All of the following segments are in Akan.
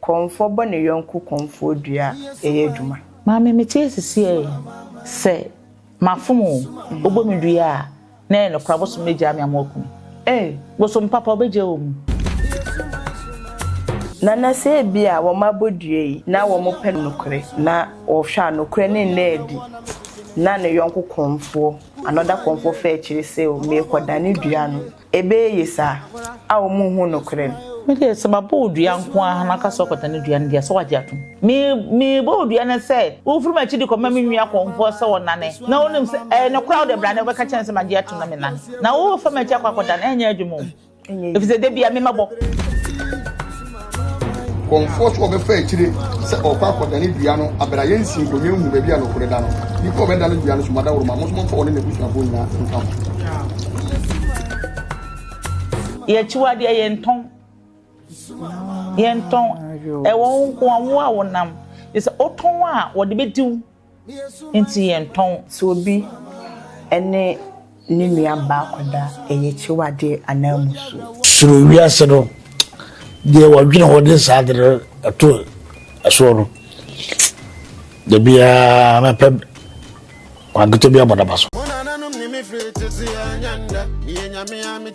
Kɔmfoɔ bɔ ne yɔnko kɔmfoɔ dua yɛ adwuma. Maame mete ase siɛɛ sɛ mafom o ɔbɔ me dua a na ɛyɛ nokora bosom no gyaa me ama waku me ee bosom papa ɔbɛgyaa wɔ mu. Nana sɛ ebia wɔn abɔ dua yi na wɔn pɛ nokorɛ na wɔhwɛ a nokorɛ no nna adi na ne yɔnko kɔmfoɔ another kɔmfoɔ fɛ akyire sɛ o meekɔ dane dua no ebeye ye saa a wɔn nhu nokorɛ no. Me deɛ sɛ mabɔ odua nko ara na aka sɛ ɔkɔda ne dua no deɛ sɛ wagye atom. Me mebɔ odua no sɛ wofiri m'akyi de kɔma me nua kɔmfoɔ sɛ ɔnane na wonim sɛ ɛyɛ nokorɛ a wode bra na wobɛka kyerɛ no sɛ magye atom na menane na wofa m'akyi akɔ akɔda no ɛnyɛ adwuma o ɛfiri sɛ da biara me mɛbɔ. Kɔmfoɔ so ɔbɛfa akyire sɛ ɔrekɔ akɔdane dua no abera yɛn nsi nkonnwa nhu baabi a nokore da no nipa a ɔbɛdane dua no so madaworoma mo nso momfa ɔne n'abusuafoɔ nyinaa nka ho. Yɛ akyiwadeɛ yɛntɔn yɛntɔn ɛwɔ wo nko a wo a wonam yɛ sɛ wotɔn a wɔde bɛdi wo Enti yɛntɔn. Sɛ obi ne ne nua ba akɔda a, ɛyɛ akyiwadeɛ anaa mmusuo? Suro wiase no, deɛ wɔdwene ho de saa ade no to ɛsoɔ no, da biara mɛpɛ kwan ketewa bi abɔ n'aba so.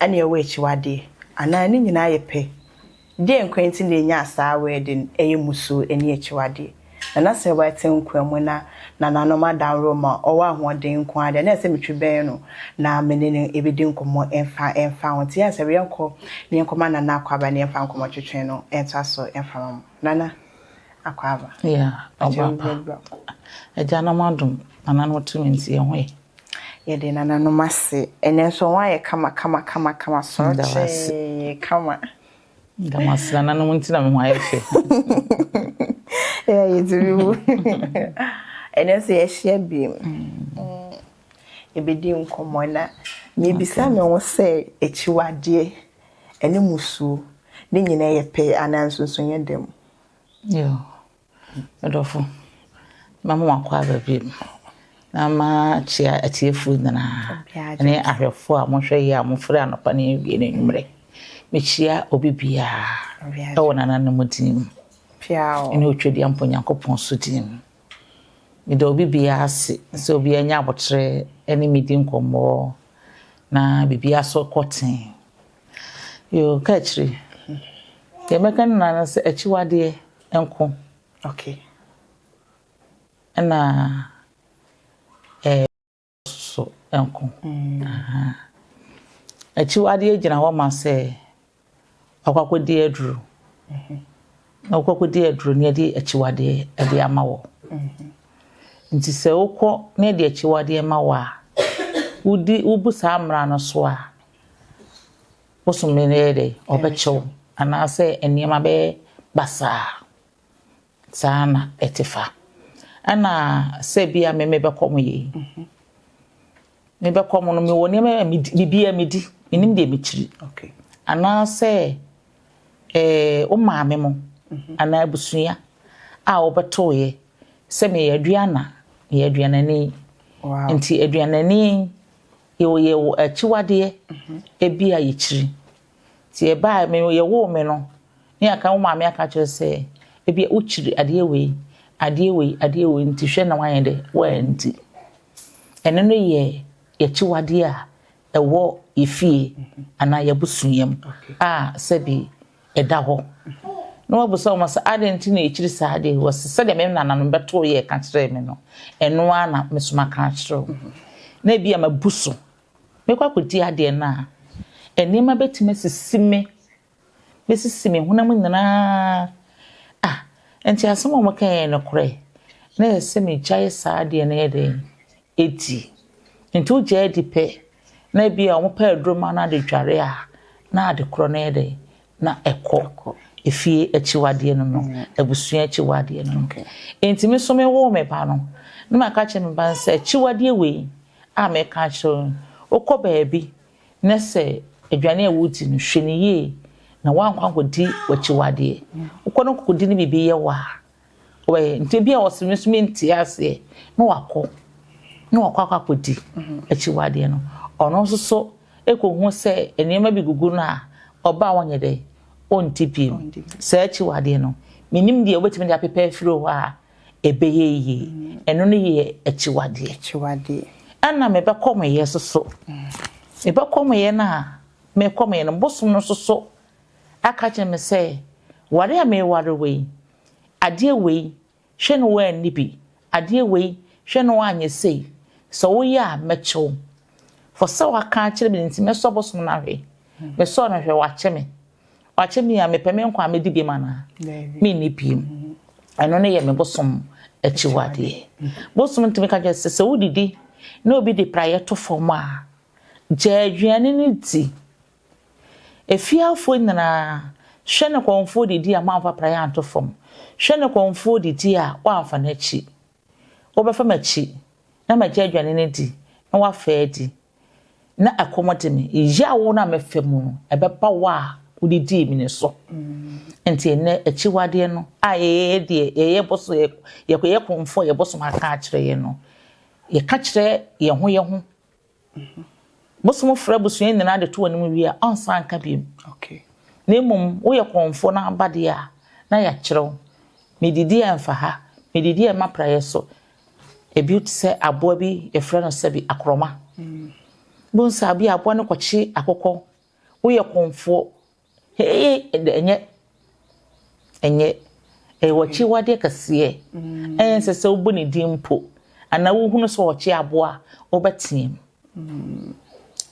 Ɛnneɛ ɛwɔ akyiwadeɛ? Anaa ne nyinaa yɛ pɛ? Deɛn nkwa nti na ɛnyaa saa wɛɛde no, ɛyɛ mmusuo ne akyiwadeɛ? Na na sɛ wɛte nkwa mu na nananom adaworo ma ɔwɔ ahoɔden nko ara deɛ, na ɛsɛ sɛ metwe bɛn no na me ne no bɛdi nkɔmmɔ mfa mfa ho. Nti yɛn sɛ yɛnkɔ na yɛnkɔma Nana Akwaaba na yɛmfa nkɔmmɔtwetwe no ntoa so mfa mma mo. Nana Akwaaba. Yeah, Ɔbaapa. Agyanom adom, nananom tumi nti yɛn ho yɛ. Yɛde nananom ase. Ɛnɛ nso wɔn ayɛ kama kama kama kama sɔɔkyee kama. Damasi nananom nti na me ho ayɛ fɛ. Ɛyɛ yɛtumi mu. Ɛnɛ nso yɛahyia bi mu. Yɛbɛdi nkɔmmɔ na mebisa me ho sɛ akyiwadeɛ ɛne musuo ne nyinaa yɛ pɛ anaa nsonsonoeɛ da mu. Me dɔfo, mɛma wakɔ aba bio, na makyia atiefo nyinaa ne ahwɛfo a mohwɛ yie a mofrɛ anɔpa ne awie ne anwummerɛ. Mekyia obi biara ɛwɔ nananom din mu ne Otwadiampo Nyankopɔn so din mu. Meda obi biara ase sɛ obi anya aboterɛ ne me di nkɔmmɔ na biribi asɔ kɔ tee. Yoo, kaakyire. Deɛ mɛka ne nyinaa ne sɛ akyiwadeɛ nko. Okay. Ɛna ɛɛ so nko. Ahaa. Akyiwadeɛ gyina hɔ ma sɛ wakɔ akɔdi aduro. Na wokɔ akɔdi aduro na yɛde akyiwadeɛ de ama wɔ. Nti sɛ wokɔ na yɛde akyiwadeɛ ma wɔ a, wodi wobu saa mmara no so a, Bosome no bɛyɛ dɛn? Ɔbɛkyɛw anaasɛ nneɛma bɛyɛ basaa. Saa na ɛte fa. Ɛna sɛ bi a me mebɛkɔ mo yei. Mebɛkɔ mo no mewɔ nneɛma a medi biribiara medi menim deɛ mekyiri. Anaasɛ ɛɛ eh, wo maame mo mhm. anaa abusua a wɔbɛtoeɛ sɛ meyɛ aduana meyɛ aduanani. Nti aduanani Yɛyɛ wo akyiwadeɛ, ebia yɛkyiri. Nti yɛbaa me yɛwoo me no ne aka wo maame aka kyerɛ sɛ ebia wokyiri adeɛ wei adeɛ wei adeɛ wei nti hwɛ na wanyɛ dɛ wanti. Ɛno no yɛ yɛkyiwadeɛ a ɛwɔ yɛfie anaa yɛabusuam a sɛbi ɛda hɔ. Na wabisa wɔn sɛ, Adɛn nti na ɛkyiri saa adeɛ yi? Wɔse, Sɛdeɛ me nananom bɛtoo yɛɛ ka kyerɛɛ me no, ɛno ara na me nso maka akyerɛ wo. Na ebia mabu so. Mɛkɔ akɔdi adeɛ no a, nneɛma bɛtumi asisi me, bɛsisi me honam nyinaa. Ah, enti asɛm a wɔkaeɛ yɛ nokorɛ? Na ɛsɛ sɛ megyae saa adeɛ no yɛ dɛn? adi. Enti wogyaa adi pɛ na ebia wɔpɛ aduru ma no ade dware a, na ade korɔ no yɛ dɛ na ɛkɔ. Efie akyiwadeɛ no no, abusua akyiwadeɛ no no. Enti me nso me woo me ba no, na maka kyerɛ me ba no sɛ akyiwadeɛ wei a meka akyerɛ wo yi, wokɔ baabi na sɛ aduane a wodi no, hwɛ no yie na woankɔ ankɔdi w'akyiwadeɛ. Wokɔ na wokɔdi ne biribi yɛ wo a, Why? Nti ebi a wɔsɛ me nso mentie aseɛ na wakɔ na wakɔ akɔ akɔdi akyiwadeɛ no ɔno nso so ɛkɔhu sɛ nneɛma bi gugu no a ɔba a wɔnyɛ dɛ ɔnti bio saa akyiwadeɛ no menim deɛ wobɛtumi de apepɛ afiri hɔ a ɛbɛyɛ yie ɛno no yɛ akyiwadeɛ ɛna mebɛkɔ meyɛ soso mebɛkɔ meyɛ no a mekɔ meyɛ no bosom no soso aka kyerɛ me sɛ, Ware a mereware wo yi, adeɛ wei, hwɛ na woanni bi, adeɛ wei, hwɛ na woanyɛ sei, sɛ woyɛ a, mɛkyɛ wo. Fɔ sɛ waka akyerɛ me nti, mɛsɔ bosom no ahwɛ. Mesɔɔ no hwɛ, wakyɛ me. Wakyɛ me a, mepɛ me nkwa a mɛdi biom anaa? Menni biom. Ɛno no yɛ me bosom akyiwadeɛ. Bosom ntumi ka kyerɛ sɛ sɛ wodidi na obi de praeɛ to fam a, gyaa aduane no di. Afiafoɔ nyinaa, hwɛ ne kɔmfoɔ didie a moamfa praeɛ anto fam, hwɛ ne kɔmfoɔ didie a woamfa no akyi. Wobɛfa m'akyi, na magya aduane no adi, na woafa adi, na ɛkɔm de me. Yaw no a mɛfa mu no, ɛbɛba wo a wodidii me no so. Nti ɛnnɛ, akyiwadeɛ no a yɛyɛ deɛ yɛyɛ boso, yɛyɛ kɔmfoɔ a yɛbosom aka akyerɛ yɛn no, yɛka kyerɛ yɛn ho yɛn ho ho. Bosom frɛ abusua nyinaa de to w'anim wie a, ɔnsan nka bio. Na mmom woyɛ kɔmfoɔ no aba deɛ a, na yɛakyerɛ wo. Medidi a ɛmfa ha, medidi a ɛma praeɛ so. Ebi te sɛ aboa bi, yɛfrɛ no sɛbi, akorɔma. Wobɛhu sɛ bi a aboa no kɔkye akokɔ. Woyɛ kɔmfoɔ, Heeii ɛdɛ ɛnyɛ ɛnyɛ ɛyɛ w'akyiwadeɛ kɛseɛ ɛyɛ nsɛ sɛ wobɔ ne din mpo anaa wohunu sɛ ɔkye aboa a wobɛteam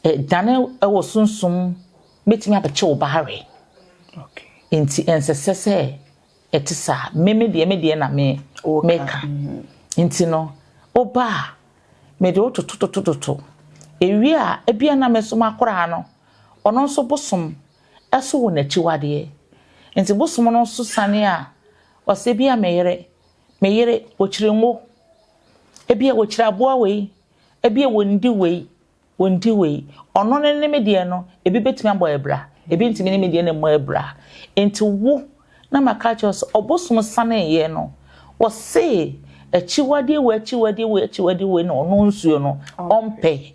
ɛdane ɛwɔ sunsum bɛtumi abɛkye wo ba awe nti ɛnsɛ sɛ sɛ ɛte saa me me deɛ me deɛ na me meka nti no woba a mede wotototototo ewie a ebia na me so makora no Ɔno nso bosom so wo n'akyiwadeɛ. Nti bosom no nso sane a ɔsɛ ebia me yere, me yere wɔkyiri ngo, ebia wɔkyiri aboa wei, ebia wɔndi wei, wɔndi wei. Ɔno ne ne me deɛ no ebi bɛtumi abɔ abira, ebi ntumi ne me deɛ no mmɔ abira. Nti wo na maka akyerɛ wo sɛ ɔbosom saneeɛ no ɔse akyiwadeɛ wei akyiwadeɛ wei akyiwadeɛ wei na ɔno nsuo no ɔmpɛ.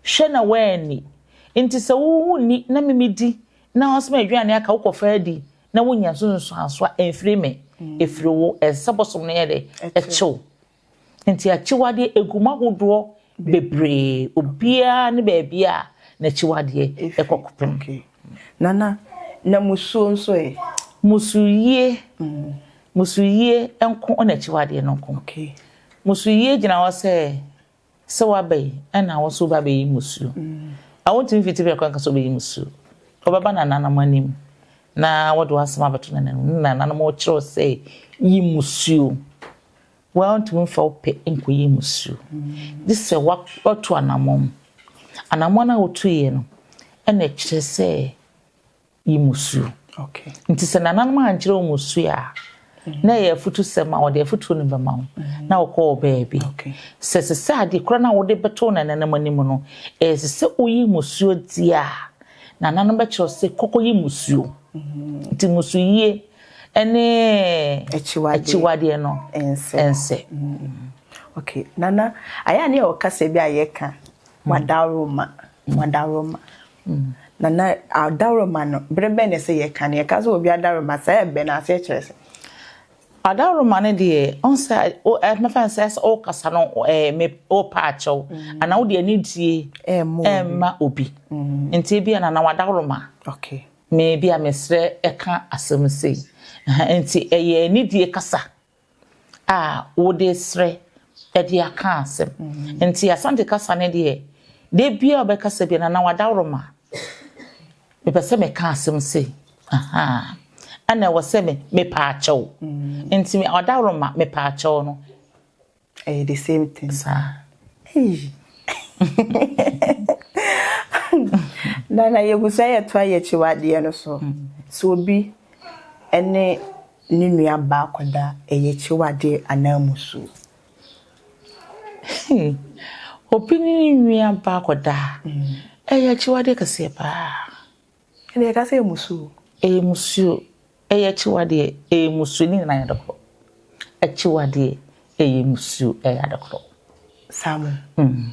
Hwɛ na woanni. Enti sɛ wo wo nni na me medi na ɔsoma aduane aka wo kɔfa adi na wonya nso nsuanso a ɛmfiri me ɛfiri wo ɛsɛ sɛ bosom no yɛ dɛ ɛkyew nti akyiwadeɛ ɛgu mu ahodoɔ bebree obiara ne baabi a n'akyiwadeɛ ɛkɔ kopem nana na musuo nso ɛ musuyie musuyie nko ɔna akyiwadeɛ no nko musuyie gyina hɔ sɛ Sɛ waba yi, ɛna wo nso woba bɛyi mmusuo. A Wontumi fiti bɛkɔ nka sɛ wobɛyi mmusuo. Wobɛba nananom anim na wɔde w'asɛm abɛto nananom ne nananom kyerɛw sɛ yi mmusuo. Wontumi mfa wo pɛ nkɔyi mmusuo. Gye sɛ woatu anammɔn. Anammɔn a wotuiɛ no ɛna ɛkyerɛ sɛ yi mu su. Nti sɛ nananom ankyerɛ wɔn su a, na ɛyɛ afutusɛm a wɔde afutuo no bɛma wo mm-hmm. na wɔkɔ wɔ baabi sɛ sɛ sɛ adeɛ kora no a wode bɛto nananom anim no ɛsɛ sɛ woyi musuo di a nananom bɛkyerɛ sɛ kɔkɔ yi musuo mm-hmm. nti musu yie ɛne akyiwadeɛ no ɛnsɛ mm-hmm. okay nana ayɛ adeɛ a wɔka sɛ bi a yɛka wadaworo ma wadaworo ma Nana, adaworoma no, bere bɛn na ɛsɛ yɛka no? Yɛka sɛ obi adaworoma, saa ɛbɛn aseɛ kyerɛ sɛ? Adaworoma no deɛ, ɔhu sɛ, mɛfa no sɛ sɛ wokasa no, wopɛ akyɛ wo, anaa wode anidie ɛrema obi. Nti ebia Nana w'adaworoma. Me, ebia mesrɛ ka asɛm sei. Nti ɛyɛ anidie kasa. a wode resrɛ de aka asɛm. Nti Asante kasa no deɛ, da biara ɔbɛkasa bi Nana Wadaworoma, mepɛ sɛ meka asɛm sei, ahaa, ɛna ɛwɔ sɛ me mepaakyɛw. Nti Wadaworoma mepaakyɛw no. Ɛyɛ the same thing. Saa. Hey. Nana yɛgu sɛ yɛtoa yɛkyi wadeɛ no so. So obi ɛne ne nua baa kɔda Ɛyɛkyew adeɛ ananmu suo. Hee! Obi ne ne nua baa kɔda Ɛyɛkyew adeɛ kɛseɛ paa. Ɛnneɛ yɛka sɛ ɛmusuo. Ɛmusuo, Ɛyɛkyew adeɛ, ɛmusuo, ne nyinaa yɛ ade korɔ. Ɛkyew adeɛ, ɛyɛmusuo, ɛyɛ ade korɔ. Saa mo. Mm.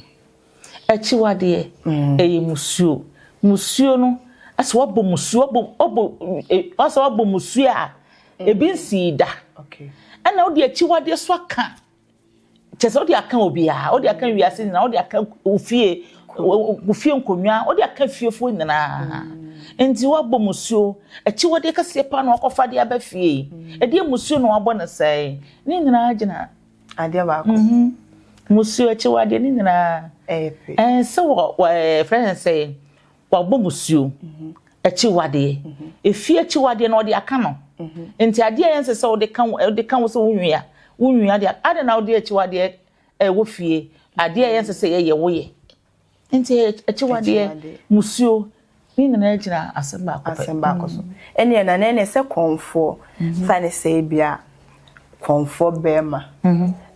Akyiwadeɛ, ɛyɛ musuo. Musuo no, asɛ wabɔ musuo, wabɔ, wabɔ, asɛ wabɔ musuo a, ebi nsii da. Ɛna wode akyiwadeɛ so aka, kyerɛ sɛ wode aka obiara, wode aka wiase nyinaa, wode aka ofie, ofie nkonnwa, wode aka fiefoɔ nyinaa. Nti wabɔ musuo, akyiwadeɛ kɛseɛ paa na wakɔfa de aba fie. Ɛdeɛ musuo na wabɔ no sɛe. Ne nyinaa gyina Adeɛ baako. Musuo akyiwadeɛ no nyinaa ɛyɛ pɛ. Ɛɛ sɛ wɔ wɔ ɛfrɛ no sɛ wabɔ musuo akyiwadeɛ. Efie akyiwadeɛ no ɔde aka no. Nti adeɛ a ɛnsɛ sɛ wode ka wo wode ka wo sɛ wo nua wo nua deɛ adɛn na wode akyiwadeɛ ɛwɔ fie. Adeɛ a ɛnsɛ sɛ yɛyɛ woyɛ. Enti akyiwadeɛ, musuo, ne nyinaa gyina asɛm baako pɛ. Asɛm baako so. Ɛneɛ na na ɛneɛ sɛ kɔnfoɔ, fa ne sɛ ebia kɔnfoɔ barima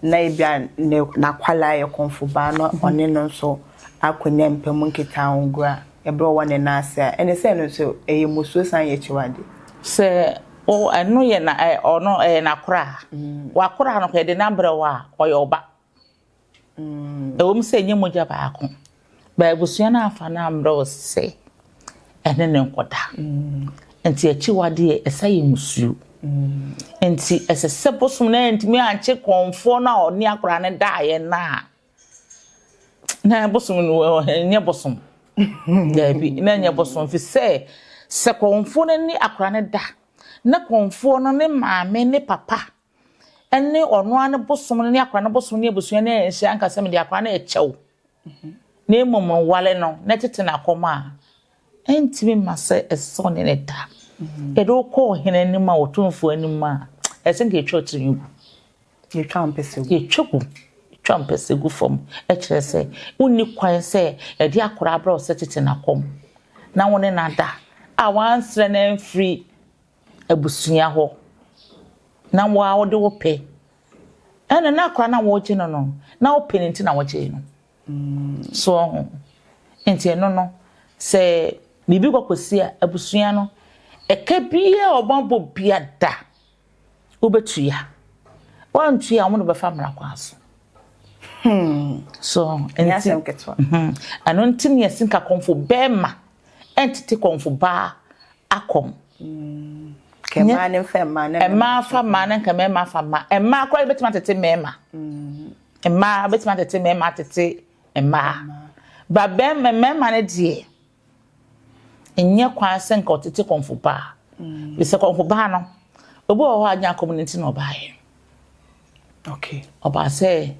na ebia ne n'akwadaa yɛ kɔnfobaa na ɔne no nso akɔnya mpa mu nkitahogua ɛberɛ ɔwɔ ne nan ase a, ɛneɛ sɛ ɛno nso ɛyɛ musuo san yɛ akyiwadeɛ. Sɛ ɛno yɛ na ɔno ɛyɛ n'akoraa, w'akoraa no koraa yɛde no abrɛ wo a, ɔyɛ wo ba. Ɛwom sɛ ɛnyɛ mogya baako, but abusua no amfa no ammrɛ wo sɛ ɛne no nkɔda. Enti akyiwade yɛ ɛsa yɛ mmusuo. Enti ɛsɛ sɛ bosom no antumi ankye kɔmfoɔ no a ɔne akwadaa no daeɛ no a na bosom no ɛnyɛ bosom. Daabi, na ɛnyɛ bosom fi sɛ sɛ kɔmfoɔ no ne akwadaa no da na kɔmfoɔ no ne maame ne papa ne ɔno ara ne bosom no ne akwadaa no bosom ne abusua no anhyia nka sɛ mede akwadaa no rekyɛ wo na mmom nwale no na tete no akɔm a ɛntumi ma sɛ ɛsɛ sɛ ɔne ne da yɛde wokɔ ɔhene anim a ɔtomfoɔ anim a ɛsɛ nka ɛtwa tirinwi gu yɛtwa mpɛsɛ gu yɛtwa gu yɛtwa mpɛsɛ gu fam ɛkyerɛ sɛ wonni kwan sɛ ɛde akora abrɛ wo sɛ tete nakɔm na wo ne nada a wansrɛ no amfiri abusua hɔ na wo ara wode wo pɛ ɛna na akora na wɔregye no no na wo pɛ no nti na wɔgyee no so ɔho nti ɛno no sɛ biribi kɔkɔsi a abusua no ɛka biaa ɔma bɔ bia da wobɛtua wɔantua a wɔn de bɛfa mmara kwan so hmm. so ɛno nti ne yɛsi nkakɔmfo bɛrima ɛntete kɔmfo baa akɔm. Kɛ mmaa ne mfa mmaa na mmaa fa mmaa na nka mmarima fa mmaa. Mmaa koraa bɛtumi atete mmarima. Mmaa bɛtumi atete mmarima atete mmaa. Ba bɛrima mmarima no deɛ nyɛ kwan sɛ nka ɔtete kɔmfo baa. Bisɛ kɔmfo baa no obi wɔ hɔ a nyɛ akɔm no nti na ɔbaeɛ. Okay. Ɔbaa sɛ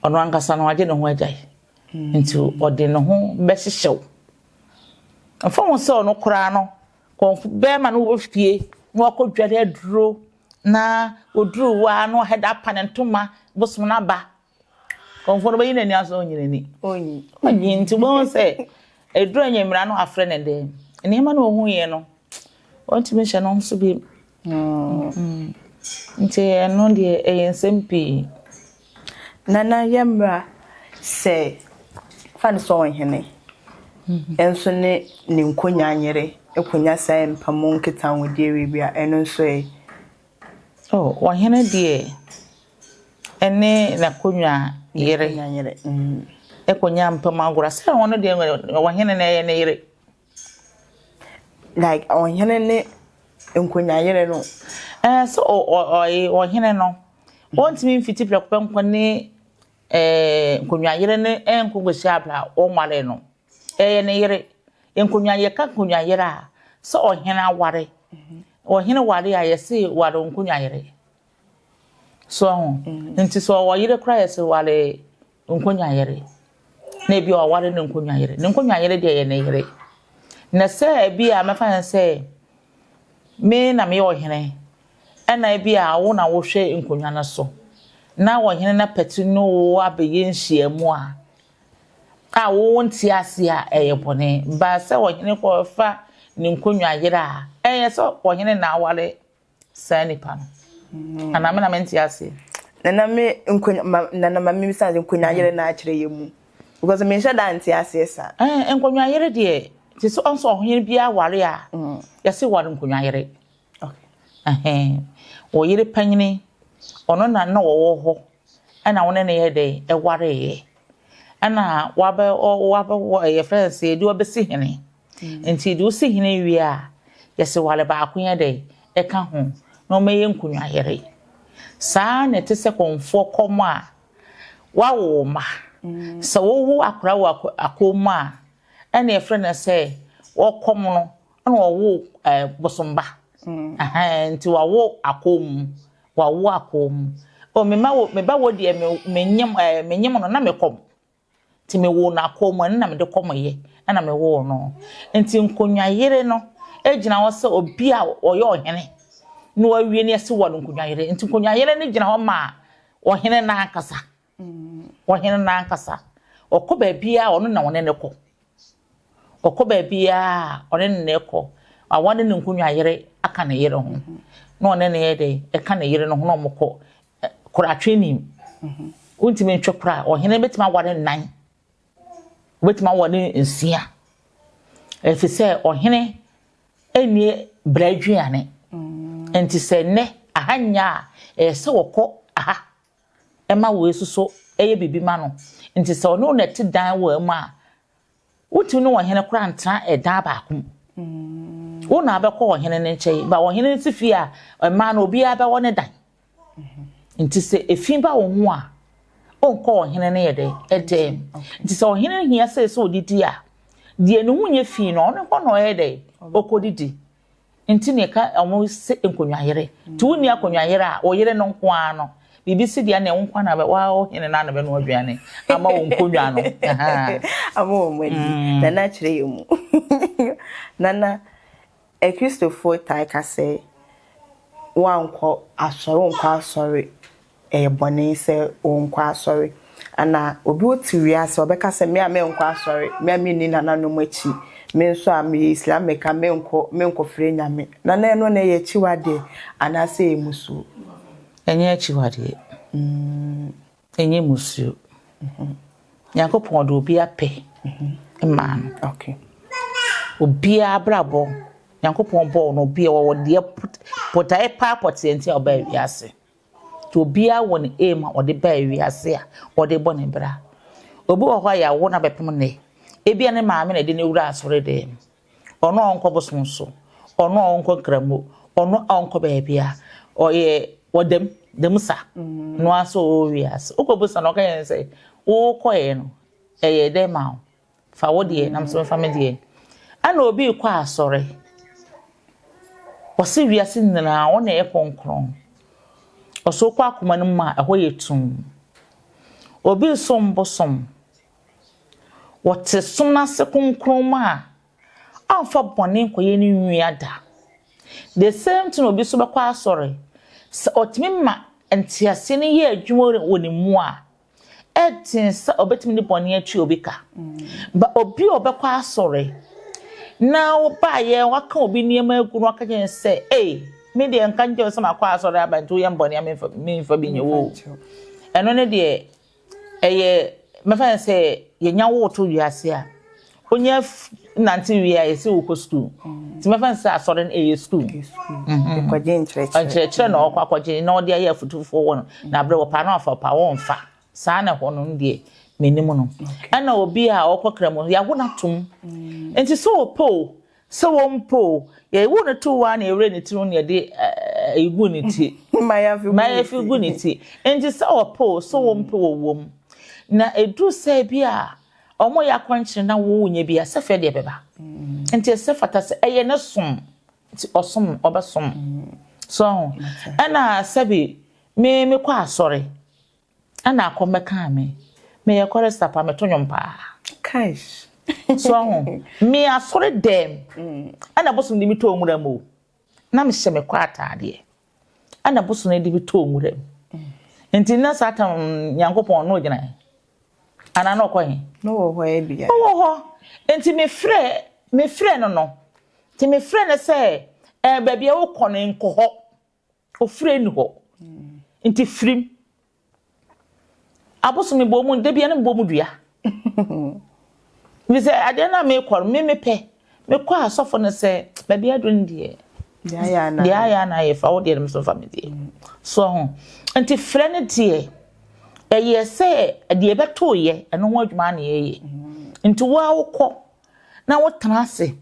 ɔno ankasa no agye ne ho agyae. Nti ɔde ne ho bɛhyehyɛ wo. Mfa ho sɛ ɔno koraa no, kɔmfo bɛrima no wɔ fie na wakɔdware aduro na ɔduru hɔ ara na wahɛda apa ne ntoma bosom no aba. Kɔmfo no bɛyi n'ani asɔ ɔnyi n'ani. Ɔnyi. Nti wobɛhu sɛ ɛduru anwummera no wafrɛ ne dɛn. Nneɛma no ɔhuiɛ no. Wɔntumi nhyɛ no nso bi. Nti ɛno deɛ ɛyɛ nsɛm pii. Nana yɛ mmra sɛ fa no sɛ ɔhene nso ne ne nkonya nyere konya sɛ mpa mu nketa ho deɛ wie bi a ɛno nso ɛ. Oh, ɔhene deɛ ɛne n'akonya yere ɛkonya mpam agora sɛ ɔno deɛ ɔhene na ɛyɛ ne yere. like ɔhene ne nkonyayere no ɛɛ sɛ ɔyɛ ɔhene no wɔntumi mfiti prɛko pɛ nkɔ ne ɛɛ nkonyayere ne ɛnko kɔsi abira a wɔnware no ɛyɛ ne yere nkonyayɛ ka nkonyayere a sɛ ɔhene aware ɔhene ware a yɛsi ware nkonyayere. So ahu? Nti sɛ ɔwɔ yere koraa yɛse ware nkonwa yere. Na ebi a ɔware ne nkonwa yere. Ne nkonwa yere deɛ yɛ ne yere. Na sɛ ebi a mɛfa ne sɛ me na meyɛ ɔhene ɛna ebi a wo na wohwɛ nkonwa no so na ɔhene no apɛte ne wo abɛyɛ nhyiamu a a wo nte ase a ɛyɛ bɔne. Ba sɛ ɔhene kɔfa ne nkonwa yere a ɛyɛ sɛ ɔhene na aware saa nipa no mm. anaa me na mente aseɛ nana me nkonya ma nana ma mimi sanze nkonya yere na akyerɛ yɛ mu because me nhyɛ da nte aseɛ sa eh nkonya yere deɛ te sɛ ɔnso ɔhene biara ware a mm. yɛse ware nkonya yere okay eh ɔyere panyini ɔno na na ɔwɔ hɔ ɛna wo ne no yɛ dɛn ɛwareeɛ ɛna wabɛ wabɛ yɛfrɛ no sɛ yɛde wabɛsi hene mm. nti de wosi hene wie a yɛsɛ wale baako yɛ dɛn ɛka ho na wɔbɛyɛ nkonwayere saa na ɛte sɛ kɔnfoɔ kɔm a wawo ma mm. sɛ wowu akora wɔ akɔm mu a ɛna yɛfrɛ no sɛ wɔkɔm no ɛna wɔwo ɛɛ bosomba mm. nti wawo akɔm mu. Wawo akɔɔ mu. O me mma wo, me ba wɔ deɛ me menyem ɛɛ menyem no na me kɔm. Nti me woo no akɔɔ mu, ɛno na mede kɔm yɛ, ɛna me woo no. Nti nkonnwa yere no gyina hɔ sɛ obi a ɔyɛ ɔhene na wawie ne ɛse wɔ no nkonnwa yere. Nti nkonnwa yere no gyina hɔ ma ɔhene no ankasa. Ɔhene no ankasa, ɔkɔ baabiara a ɔno na wɔne no kɔ. Ɔkɔ baabiara a ɔne ne ne kɔ. Awa ne ne nkonnwa yere aka ne yere ho. Na ɔne ne yɛ dɛn? Ɛka ne yere no ho na wɔkɔ. Koratwe nim. Wontumi ntwe kora. Ɔhene bɛtumi aware nnan. Ɔbɛtumi aware nsia. Ɛfiri sɛ ɔhene nni bra aduane. Nti sɛ nnɛ aha nyɛ a, ɛyɛ sɛ wɔkɔ aha. ma woesusu yɛ biribi ma no. Ntsi sɛ ɔno na etse dan wɔ mu a, wotumi nye ɔhen koraa nntsena dan baako mu. Wo na abɛkɔ ɔhen ne nkyɛn. Ba ɔhen no tse fie a, mmaa no obiara bɛwɔ ne dan. Ntsi sɛ fi ba wo ho a, onnkɔ ɔhen ne yɛ dɛn? Dan mu. Ntsi sɛ ɔhen hia sɛ sɛ odidi a, deɛ ne ho nyɛ fi no, ɔno hɔ na ɔyɛ dɛn? Okodidi. Nti na yɛka ɔmo se nkonnwa yere. Nti wonni akonnwa yere a, wo yere no nko ara no. Biribi si deɛ nneɛ wo nko ara na bɛ, waa ɔhene no ara na bɛnoa aduane ama wo nkonnwa no. Ama wɔn ani. Nana kyerɛ yɛn mu. Nana, Akristofoɔ taa ka sɛ, woankɔ asɔre, wonkɔ asɔre ɛyɛ bɔne sɛ ɔrenkɔ asɔre. Ana obi wɔ te wiase a ɔbɛka sɛ, me a menkɔ asɔre, me a menni nananom akyi, me nso a meyɛ Islamic a menkɔ, menkɔfrɛ Nyame. Na na ɛno na ɛyɛ akyiwadeɛ anaasɛ ɛyɛ mmusuo? Ɛnyɛ akyiwadeɛ. Ɛnyɛ mmusuo. Nyankopɔn ɔde obiara pɛ maa no. Okay. Obiara abrabɔ, Nyankopɔn bɔɔ no obiara ɔwɔ deɛ botaeɛ paa pɔteɛ nti a ɔbaa wiase. Nti obiara wɔ ne aim a ɔde baa wiase a ɔde bɔ ne bra. Obi wɔ hɔ a yɛawo no abɛpem nnɛ, ebia ne maame na ɛde no wuraa asɔredan mu. Ɔno a ɔnkɔ bosom so, ɔno a ɔnkɔ nkramo, ɔno a ɔnkɔ baabi a ɔyɛ ɔdam dam sa no ara sɛ ɔwɔ wiase. Wokɔ bosa na ɔka yɛn sɛ wokɔɛ no ɛyɛ dɛn ma wo? Fa wo deɛ na me nso mɛfa me deɛ. Ɛna obi rekɔ asɔre. Wɔse wiase nyinaa wɔn na ɛyɛ kronkron. Ɔso wokɔ akoma no mu a ɛhɔ yɛ tumm. Obi resom bosom. Wɔte som no ase kronkron mu a ɔmfa bɔne nkɔyɛ ne nua da. The same thing obi nso bɛkɔ asɔre. Sɛ ɔtumi ma nteaseɛ no yɛ adwuma wɔ ne mu a Ɛten sɛ ɔbɛtumi de bɔne atwi obi ka. Ba obi a ɔbɛkɔ asɔre na wobaeɛ waka obi nneɛma agu no aka kyerɛ sɛ ei me deɛ nka nkyɛw sɛ makɔ asɔre aba nti woyɛ mbɔne a memfa memfa bi nyɛ wo ɛno ne deɛ ɛyɛ mɛfa sɛ yɛnya wo to wiase a Wonya nante wie a yɛse wo kɔ sukuu nti mɛfa no sɛ asɔre no ɛyɛ sukuu nkyerɛkyerɛ na ɔkɔ akɔgye na ɔde ayɛ afutufoɔ wɔ no na berɛ wɔpa no afa ɔpa wɔmfa saa na ɛhɔ no no deɛ menim no ɛna obi a ɔkɔ kra mu yɛawo no atom nti sɛ wɔpɛ o sɛ wɔmpɛ o yɛwo no to wa na yɛwerɛ ne tiri ho na yɛde ɛgu ne ti mayɛfi gu ne ti nti sɛ wɔpɛ o sɛ wɔmpɛ wɔwom na ɛduru sɛ bi a Wɔyɛ akwankyerɛ na wɔnya bi a, sɛfɛ deɛ ɛbɛba. Nti ɛsɛ fata sɛ ɛyɛ ne som. Nti ɔsom, ɔbɛsom. So ho. Ɛna sɛbi, me mekɔ asɔre, ɛna akɔ mmɛkaa me. Meyɛ kɔrɛsta paa, meto nnwom paa. Kaish. So ho. Me asɔre dɛm, ɛna bosom de metɔɔ nwura mu o. Na mehyɛ me kwa ataadeɛ. Ɛna bosono de bi too nwura mu. Nti na Satan Nyankopɔn na ɔgyina he? Anaa na ɔkɔ he? No wɔ hɔ ɛ bia. Ɔwɔ hɔ. Nti mefrɛ, mefrɛ no no. Nti mefrɛ no sɛ, ɛɛ baabi a wokɔ no nkɔ hɔ. Ofire ni hɔ. Nti firim. Abosom mebɔ mu da biara na mebɔ mu dua. Bisɛ adeɛ no a mekɔ no me mepɛ. Mekɔ a sɔfo no sɛ baabi aduro no deɛ. Deɛ ayɛ ana ayɛ fa wo deɛ no mso fa me deɛ. So ho. Nti frɛ no deɛ ɛyɛ sɛ deɛ ɛbɛto yɛ ɛno ho adwuma na yɛyɛ. Nti wo a wokɔ na wotena ase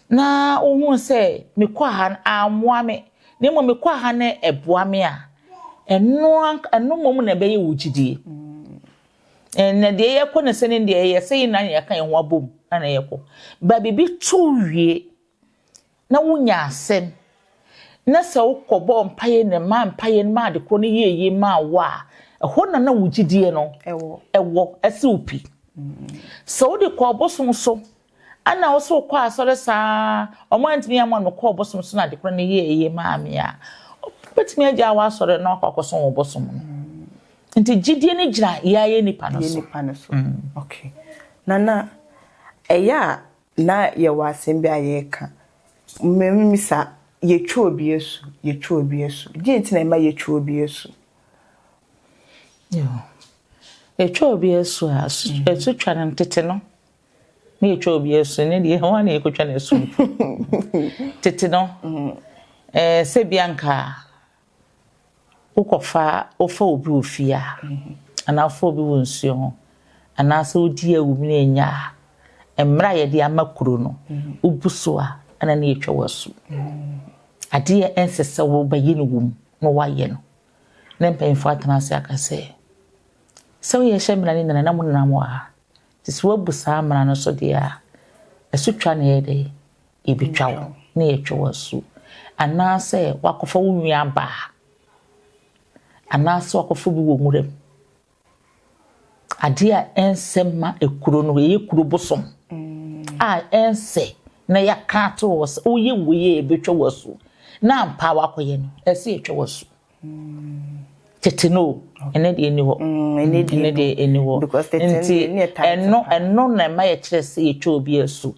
na wohuu sɛ me kwaha no ammoa me, na mmom me kwaha no boa me a, ɛno ɛno mmom na ɛbɛyɛ wo gyidie. Na deɛ yɛkɔ no sɛ ne deɛ yɛsɛ yɛn nyinaa yɛka yɛn ho abom na na yɛkɔ. Ba biribi to wie na wonya asɛm na sɛ wokɔ bɔ mpaeɛ na ma mpaeɛ no ma ade korɔ no yie yie ma wo a, ɛhɔ na na wo gyidie no ɛwɔ ɛse wo pi. Sɛ wode kɔ ɔbosom so Ana wo so kɔ asɔre saa a wɔn antumi amma no kɔɔ bosom so na ade korɔ no yɛɛ yie maa me a, wobɛtumi agyaa w'asɔre na wakɔ akɔsom wo bosom no. Nti gyidie no gyina yɛ a yɛ nnipa no so. Yɛ nnipa no so. Ok. Na na ɛyɛ a na yɛwɔ asɛm bi a yɛreka. Mɛmisa, yɛtwa obi asu, yɛtwa obi asu. Deɛ nti na ɛma yɛtwa obi asu? Yɛtwa obi asu a, asutwa no tete no. Ne yɛtwa obi asu ne deɛ hwan na yɛkɔtwa no asu mpo tete no eh, sɛ bia nka wokɔfa wofa obi wɔ fie a anaa wofa obi wɔ nsuo ho anaasɛ wodi awum no ɛnya a mmerɛ a yɛde ama kuro no wobu so a ɛna ne yɛtwa wɔ asu adeɛ ɛnsɛ sɛ wobɛyɛ no wom na woayɛ no na mpanyimfoɔ atena ase aka sɛ sɛ woyɛ hyɛ mmara no nyina na monam wɔ ha Nti sɛ woabu saa mmara no so deɛ a, asutwa na yɛyɛ dɛn? Yɛbɛtwa wo, na yɛatwa wo asu. Anaasɛ woakɔfa wo nuabaa, anaasɛ woakɔfa obi wɔ nwura mu. Adeɛ a ɛnsɛ mma ekuro no, ɛyɛ kuro bosom a ɛnsɛ na yɛaka ato hɔ sɛ woyɛ wei a yɛbɛtwa wo asu, na ampa ara woakɔyɛ no, ɛsɛ sɛ yɛtwa wo asu. tete no o ɛnɛ deɛ ɛni hɔ ɛnɛ deɛ ɛni hɔ nti ɛno ɛno na ɛma yɛkyerɛ sɛ yɛtwa obi asu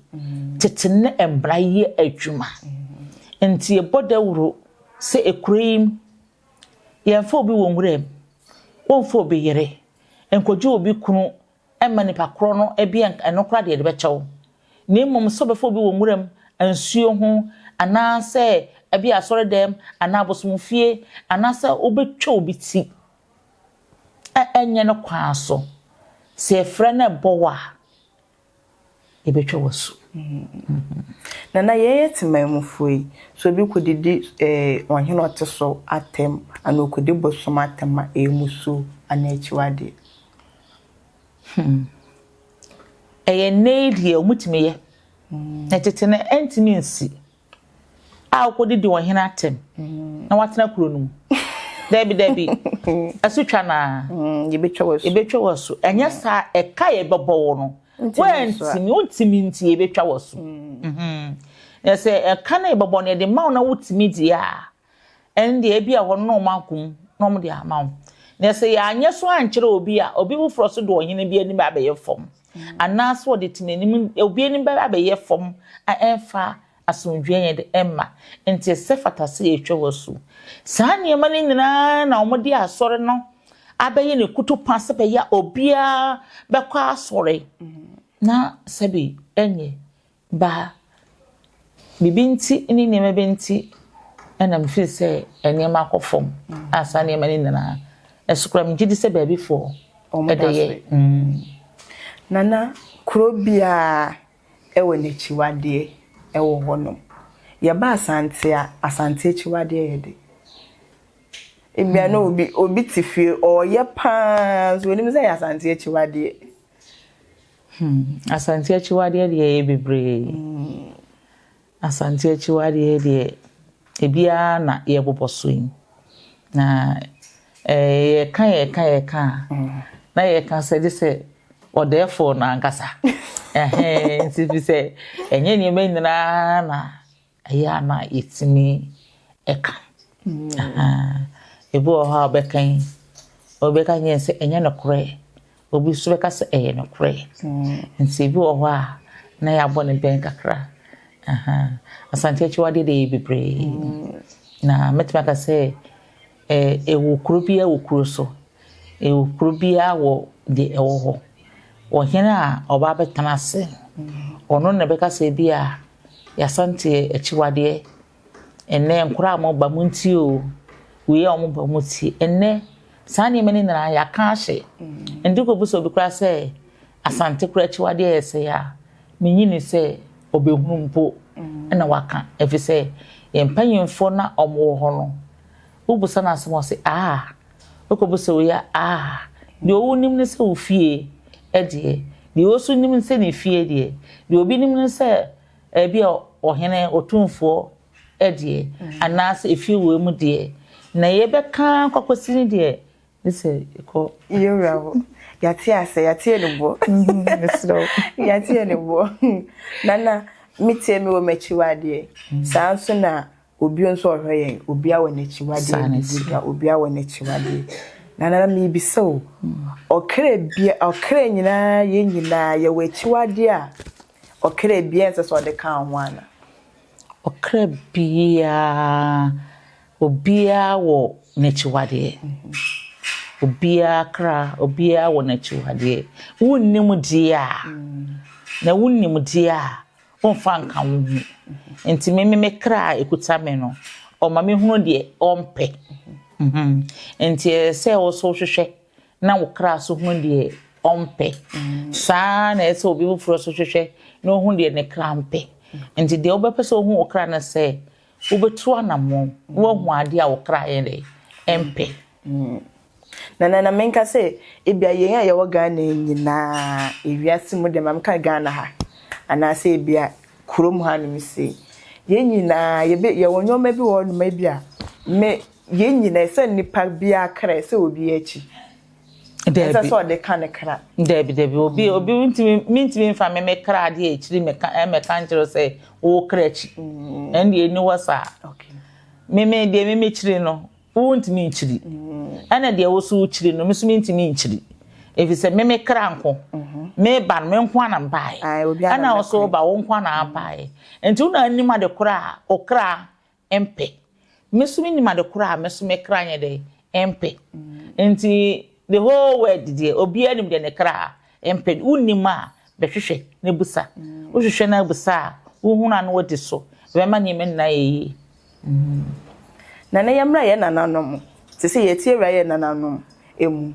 tete ne mmara yɛ adwuma nti ɛbɔ dawuro sɛ ekuro yi yɛmfa obi wɔ nwuram wɔmfa obi yere nkɔgye obi kunu ɛmma nipa korɔ no bi ɛnka ɛno koraa deɛ ɛde bɛkyɛ wo na mmom sɛ ɔbɛfa obi wɔ nwura mu, nsuo ho, anaa sɛ ɛbi asɔre dɛm anaa abosom fie anaa sɛ wobɛtwa obi ti a ɛnyɛ ne kwan so sɛ yɛfrɛ no ɛbɔ wo a. yɛbɛtwa w'asu. Nana, yɛyɛ temanmufoɔ yi, sɛ obi kɔdidi eh, ɔhene ɔte so atɛm anaa ɔkɔdi bosom atɛm a, ɛyɛ musuo anaa akyiwadeɛ? Hmm. Ɛyɛ nnɛ yi deɛ wɔtumi yɛ. Na tete no ɛntumi nsi. a okodidi ɔhene atɛm na watena kuro no mu. Dabi, dabi. Ɛso twa no ara. Mm, yɛbɛtwa wɔ so. Yɛbɛtwa wɔ so. Ɛnyɛ mm. saa ɛka yɛbɛbɔ wo no. Woantumi, wontumi nti yɛbɛtwa wɔ so. Mm. Mm-hmm. Na sɛ ɛka no yɛbɛbɔ no yɛde ma wo na wotumi deɛ a, ɛnde ebia wɔn na wɔakɔ mu na wɔde ama wo. Na sɛ yɛanyɛ so ankyerɛ obi a, obi foforɔ nso de ɔhene bi anim abɛyɛ fam, mm. anaasɛ ɔde temanim obi anim bɛba abɛyɛ fam a ɛmfa asomdwoeɛ yɛn de ɛmma. Nti ɛsɛ fata sɛ yɛtwa wɔ so. Saa nneɛma no nyinaa na wɔde asɔre no abɛyɛ ne kutu pa sɛ bɛyɛ obiara bɛkɔ asɔre. Mm. Na sɛbi ɛnyɛ Ba, biribi nti ne nneɛma bi nti na mefeel sɛ nneɛma akɔ fam a saa nneɛma no nyinaa ɛso koraa megye di sɛ baabifoɔ ɛde yɛ. Nana, kuro biara ɛwɔ n'akyiwadeɛ ɛwɔ hɔnom. Yɛba Asante a, Asante akyiwadeɛ yɛ de. Ebia na obi, obi te fie ɔreyɛ paa nso ɔnim sɛ ɛyɛ Asante akyiwadeɛ. Hmm, Asante akyiwadeɛ deɛ ɛyɛ bebree. Asante akyiwadeɛ deɛ ebiara na yɛbobɔ so yi. Na eh, yɛka yɛka yɛka a, na yɛka sɛ gye sɛ ɔdɛɛfoɔ no ankasa. Ɛhɛn, nti fi sɛ ɛnyɛ nneɛma nyinaa na Ɛyɛ a na yɛtumi ka. Ebi wɔ hɔ a wobɛka yi, obi bɛka kyerɛ sɛ ɛnyɛ nokorɛ, obi nso bɛka sɛ ɛyɛ nokorɛ. Nti ebi wɔ hɔ a na yɛabɔ no bɛn kakra. Asante akyiwadeɛ deɛ ɛyɛ bebree. Na mɛtumi aka sɛ Ɛ, ɛwɔ kuro biara wɔ kuro so, ɛwɔ kuro biara wɔ deɛ ɛwɔ hɔ. Ɔhene a ɔba abɛtena ase no, ɔno na ɛbɛka sɛ ebi a Y'Asanteɛ akyiwadeɛ, ɛnnɛ nkwadaa a wɔba montie o, wei a wɔba motie. Ɛnnɛ saa nneɛma no nyinaa yɛaka ahye. Ɛnde kɔbisa obi koraa sɛ Asante koraa akyiwadeɛ yɛ sɛe a, menyi ni sɛ ɔbɛhunu mpo ɛna waka, ɛfiri sɛ yɛn mpanyimfoɔ na wɔwɔ hɔ no, Wobisa no asɛm a, ɔse aah, wokɔbu sɛ woyɛ aah. Deɛ ɔwo nim ne sɛ wo fie deɛ, deɛ ɔwo nso nim ne sɛ ne fie deɛ, deɛ obi nim ne sɛ ebi a ɔhene, ɔtumfoɔ deɛ, anaasɛ efie wei mu deɛ, na yɛbɛka ara kɔ akɔsi ne deɛ, gye sɛ yɛkɔ. Yɛwura hɔ, yɛate asɛ, yɛate anibuo, mesrɛ wo, yɛate anibuo. Nana, me tie me wɔ m'akyi wo adeɛ, saa nso na Obio nso ɔhwɛ yɛn, obia wɔ n'akyiwadeɛ, bibidwa, obia wɔ n'akyiwadeɛ. Na nana mebisa o, ɔkra bia, ɔkra nyinaa, yɛn nyinaa, yɛwɔ akyiwadeɛ a ɔkra bia nsɛ sɛ ɔde ka ho ana? Ɔkra bia, obia wɔ n'akyiwadeɛ. Obia kra, obia wɔ n'akyiwadeɛ. Wonnim deɛ a, na wonnim deɛ a, Womfa nka wo ho. Nti me me kra a ɛkuta me no, ɔma me hunu deɛ ɔmpɛ. Nti ɛyɛ sɛ wo so hwehwɛ na wo kra so hunu deɛ ɔmpɛ. Saa na ɛyɛ sɛ obi foforɔ so hwehwɛ na ɔhunu deɛ ne kra mpɛ. Nti deɛ wobɛpɛ sɛ ɔhu wo kra no sɛ Wobɛtu anammɔn na woahu adeɛ a wo kra yɛ dɛ ɛmpɛ. Nana na menka sɛ ebia yɛn a yɛwɔ Ghana yi nyinaa ewiase mu deɛ ma meka Ghana ha anaasɛ ebia kurom hanom sei yɛn nyinaa yɛbɛ yɛwɔ nneɛma bi wɔ hɔnom a ebia me yɛn nyinaa sɛ nnipa biara kra ɛsɛ obiara akyi. Daabi. Ɛsɛ sɛ ɔde ka ne kra. Daabi, daabi. Obi, obi ntumi, mentumi mfa me me kra adeɛ akyiri mɛka ɛmɛka nkyerɛ sɛ wo kra akyi. Ɛn deɛ ɛni hɔ saa. Me me deɛ me me kyiri no, wo ntumi nkyiri. Ɛna deɛ wo so kyiri no, me so mentumi nkyiri. Efi sɛ me me kra nko. Me ba no, me nko ana mbaeɛ. Ɛna wo so ba, wo nko ana abaeɛ. Nti wo na anim ade kora a, okra mpɛ. Me nso mennim ade koro a me nso me kra nyɛ dɛn mpɛ. Nti the whole world deɛ obiara nim deɛ ne kra mpɛ. Wonnim a bɛhwehwɛ na bisa. Wohwehwɛ na bisa a wohunu a na wodi so. Ɛbɛma nneɛma nyinaa ayɛ yie. Na na yɛmmra yɛn nananom, te sɛ yɛn atiewura yɛn nananom mu.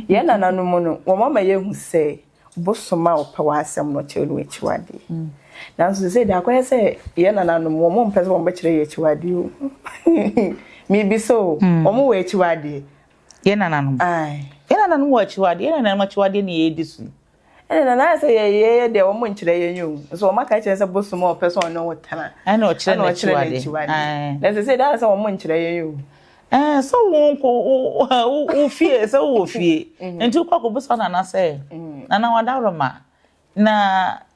Yɛn nananom no, wɔma yɛhu sɛ bosom a ɔpɛ w'asɛm no kyerɛ no akyiwadeɛ mm. nanso sɛ de akɔyɛ sɛ yɛ nananom wɔn mo mpɛ sɛ wɔn bɛkyerɛ yɛ akyiwadeɛ o mibi sɛ o mm. wɔn wɔ akyiwadeɛ yɛ nananom yɛ nananom wɔ akyiwadeɛ yɛ nananom akyiwadeɛ na yɛdi so ɛna nana ayɛ sɛ yɛyɛ deɛ wɔn nkyerɛ yɛn yɛ o nso wɔn aka kyerɛ sɛ bosom a ɔpɛ sɛ ɔne wo tena ɛna ɔkyerɛ n'akyiwadeɛ na ɛsɛ sɛ de ayɛ sɛ wɔn nkyerɛ yɛn yɛ o Eh, sɛ wonkɔ wo fie sɛ wowɔ fie mm-hmm. nti wokɔ akɔbisa nana sɛ mm. nana wadaworoma na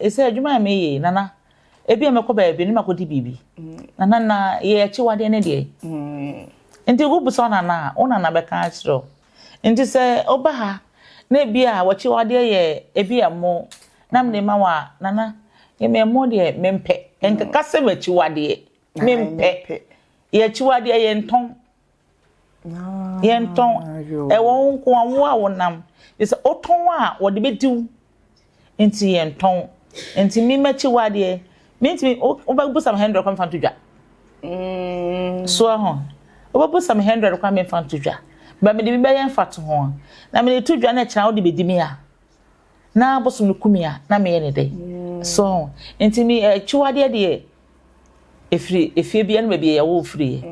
ɛsɛ adwuma a meyɛ nana ebi a mɛkɔ baabi ne makɔdi biribi mm. nana na yɛ akyiwadeɛ ne deɛ mm. nti wobisa wo nana a wo nana bɛka akyerɛ nti sɛ woba ha na ebi a wɔkyiwadeɛ yɛ ebi a mo na mede ma wo a nana yɛmɛmmɔ deɛ mempɛ ɛnkeka sɛ makyiwadeɛ mempɛ yɛakyiwadeɛ yɛntɔn yɛntɔn ɛwɔ wo nko a wo a wonam sɛ wotɔn a wɔde bɛdi wo nti yɛntɔn nti me makyiwadeɛ mentumi wobɛbu sam hundred kwan fa nto dwa mm. soɔ ho wobɛbu sam hundred kwan memfa nto dwa ba mede bi bɛyɛ mfa to ho na mede to dwa no kyena wode bɛdi me a na abosom no kum a, na meyɛ no dɛ. So ho? Nti me akyiwadeɛ deɛ ɛfiri efie bi ɛne baabi a yɛwoo firiɛ.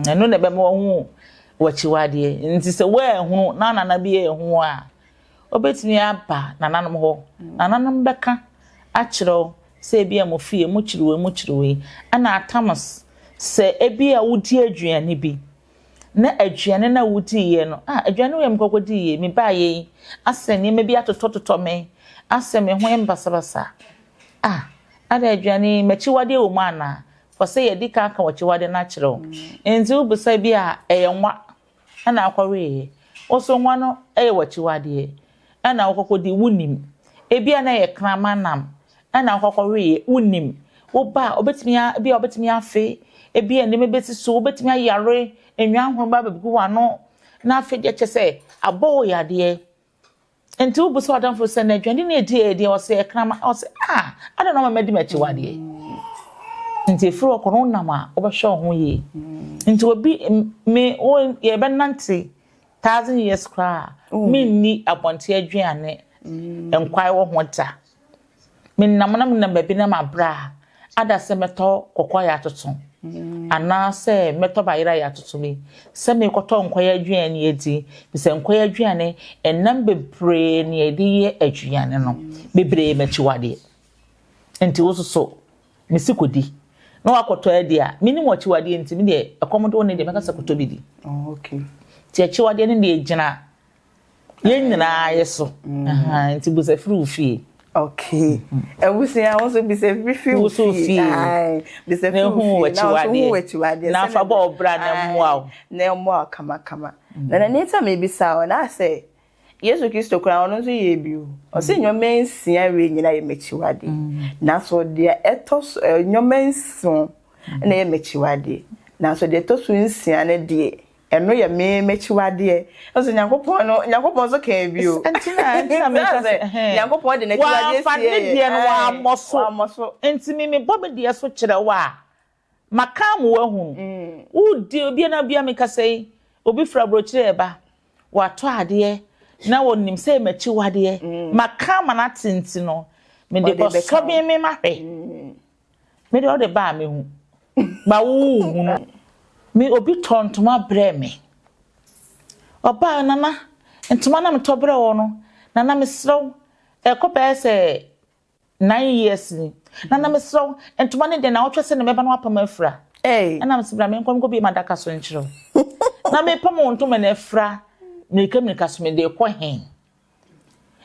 Ɛno na ɛbɛma wahu w'akyiwadeɛ. Nti sɛ woanhunu na nana bi anhu wo a, wobɛtumi aba nananom hɔ. Nananom bɛka akyerɛ wo sɛ ebi a mo fie mokyiri wei mokyiri wei. Ɛna atams sɛ ebi a wodi aduane bi. na aduane no a wodiiɛ no, ah, aduane wei a mekɔkɔdiiɛ, mebaeɛ yi, asɛ nneɛma bi atotɔtotɔ me, asɛ me ho yɛ basabasa. Ah, ada aduane yi, m'akyiwadeɛ wɔ mu anaa? Fɔ sɛ yɛdi kan ka w'akyiwadeɛ no akyerɛ wo. Nti wobisa bi a, ɛyɛ nwa na akɔweeɛ. Wo nso nwa no yɛ w'akyiwadeɛ. na wokɔkɔdii, wonnim. Ebia na ɛyɛ kraman nam na wokɔkɔweeɛ, wonnim. Woba a, wobɛtumi a, ebia wobɛtumi afe, ebia nneɛma bɛsi so, wobɛtumi ayare, nnwan hunu ba bɛgu w'ano, na afei deɛ kyɛ sɛ abɔ wo yadeɛ. Nti wobisa w'adamfo sɛ, na aduane no ɛdi ɛyɛ deɛ ɔsɛ ɛkraman? Ɔsɛ, ah, adɛn na ɔma madi m'akyiwadeɛ? Nti ɛfiri hɔ kɔ no wonam a, wobɛhwɛ wo ho yie. Nti obi, me, wo, yɛbɛnante Thousand years koraa a, menni abɔnten aduane nkwae wɔ ho da. Menam na menam baabi na mabrɛ a, ada sɛ mɛtɔ kɔkɔɔ yatoto anaasɛ mɛtɔ bayera yatoto bi sɛ merekɔtɔ nkwae aduane adi. Efisɛ nkwae aduane, ɛnam bebree na yɛde yɛ aduane no, bebree yɛ m'akyiwadeɛ. Enti wo nso so, Ne se kɔdi na wakɔtɔ adi a, menim wo akyiwadeɛ nti, me deɛ ɛkɔm de wo ne deɛ mɛka sɛ kɔtɔ bi di. Oh, okay. Nti akyiwadeɛ no deɛ gyina yɛn nyinaa yɛ so. Mm. Nti busa firi wo fie. Okay. Abusua wo nso bisa firi firi wo fie. Bisa firi wo fie. Na ɔso hu akyiwadeɛ. Na afa bɔ ɔbra na mmoa wo. Na mmoa wo kamakama. Na na nita mebisa wo na asɛ Yesu Kristo koraa ɔno nso yɛɛ bi o. Ɔse nneɛma nsia wei nyinaa yɛ m'akyiwadeɛ. Nanso deɛ ɛtɔ so ɛ nneɛma nson na ɛyɛ m'akyiwadeɛ. Nanso deɛ ɛtɔ so nsia no deɛ ɛno yɛ me m'akyiwadeɛ. Nso Nyankopɔn no Nyankopɔn nso kaa bi o. Nti na nti na meka sɛ ɛhɛn. Nyankopɔn de n'akyiwadeɛ sie yɛ. Wamfa ne deɛ no wammɔ so. Wammɔ so. Nti me mebɔ me deɛ so kyerɛ wo a. Ma kan mo wahunu. Wo di obia na obia me kasa yi obi firi abrokyire ɛba watɔ adeɛ na wɔ nim sɛ makyi wadeɛ ma kan ma na tenti no me de kɔ sɔbin me ma hwɛ me de ɔde baa me hu ba wo hunu me obi tɔ ntoma brɛ me ɔbaa nana ntoma na me tɔ brɛ wɔ no nana me serɛ wo ɛkɔ bɛyɛ sɛ nine years ni na na mesrɛ wo ntoma ne deɛ na ɔtwɛ sɛ na mɛba no apam afira ɛna mesɛ bra menkɔ nkɔ bie ma adaka so nkyerɛ wo na mepam wo ntoma no afira mmirika mmirika so mede kɔ he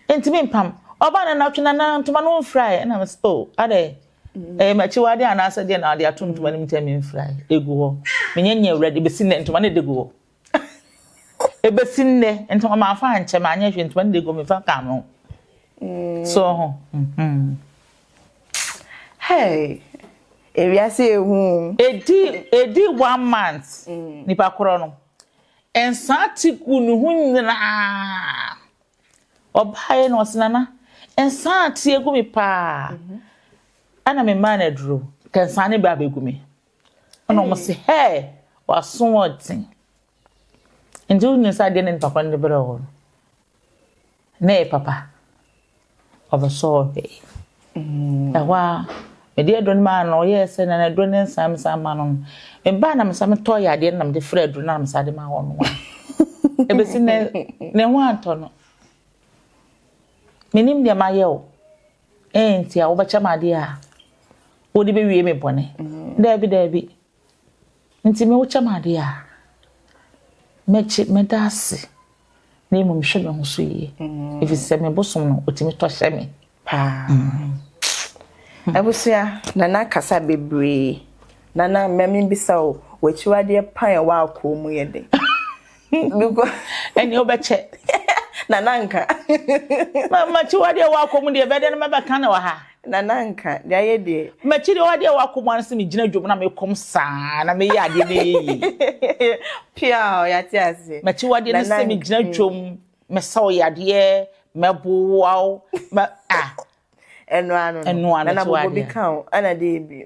ntumi mpam ɔbaa na natwe na na ntoma no mfira ɛ ɛna mesɛ oh adɛ ɛyɛ makyi wade anaasɛ deɛ na ɔde ato ntoma no mu tɛ memfira ɛ ɛgu hɔ menyɛ nyɛ awurade bɛsi nɛ ntoma no ɛde gu hɔ Ebesi nnɛ, ntoma mamfa ankyɛ, manyɛ hwee, ntoma no na egu me fa ka me ho. So ho. Hey, ewiase ehu. Edi edi one month, nipa korɔ no, nsaa ti gu ne ho nyinaa. Ɔbaeɛ na ɔse nana, nsaa ti egu me paa. Ɛna me maa no aduro, ka nsaa ne bɛ abegu me. Ɛna wɔn se, Hɛɛ, w'aso ɔden. Nti wonim sɛ adeɛ ne ne papa no de brɛɛ wo no, na ɛyɛ papa. Ɔbɛsɔ wo hwee. Mm. Ɛhɔ a, mede aduro no maa no, ɔyɛɛ sɛ na aduro no nsa me san ma no no. Mebaa na mesa metɔ yɛ adeɛ no na mede frɛ aduro no na mesa de ma hɔ no. Ɛbɛsi ne, ne ho antɔ no. Menim deɛ mayɛ o. Enti a wobɛkyɛ me adeɛ a wode bɛwie me bɔne? Mm-hmm. Daabi, daabi. Nti me wokyɛ me adeɛ a mɛkye mɛda ase na mmom mehwɛ me ho so yie. Mm-hmm. Ɛfiri sɛ me bosom no ɔtumi tɔ hyɛ me paa. Mm-hmm. Hmm. Abusua na na kasa bebree. Nana mmɛmi bisa o, w'akyiwadeɛ pan a ɛwɔ akoo mu yɛ den. ɛneɛ wobɛkyɛ nananka makyi wadeɛ wakɔ mu deɛ bɛdɛ no mɛbɛka ne wɔ ha nananka deɛ ayɛ deɛ makyi deɛ wadeɛ wakɔ mu ano sɛ megyina dwom na mekɔm saa na meyɛ adeɛ no yɛ yie pia yɛate ase makyi wadeɛ no sɛ megyina dwom mɛsɛ wo yadeɛ mɛboa wo ɛnoa no ɛnoa no ɛna bɔbɔ bi ka wo ɛna deɛ bi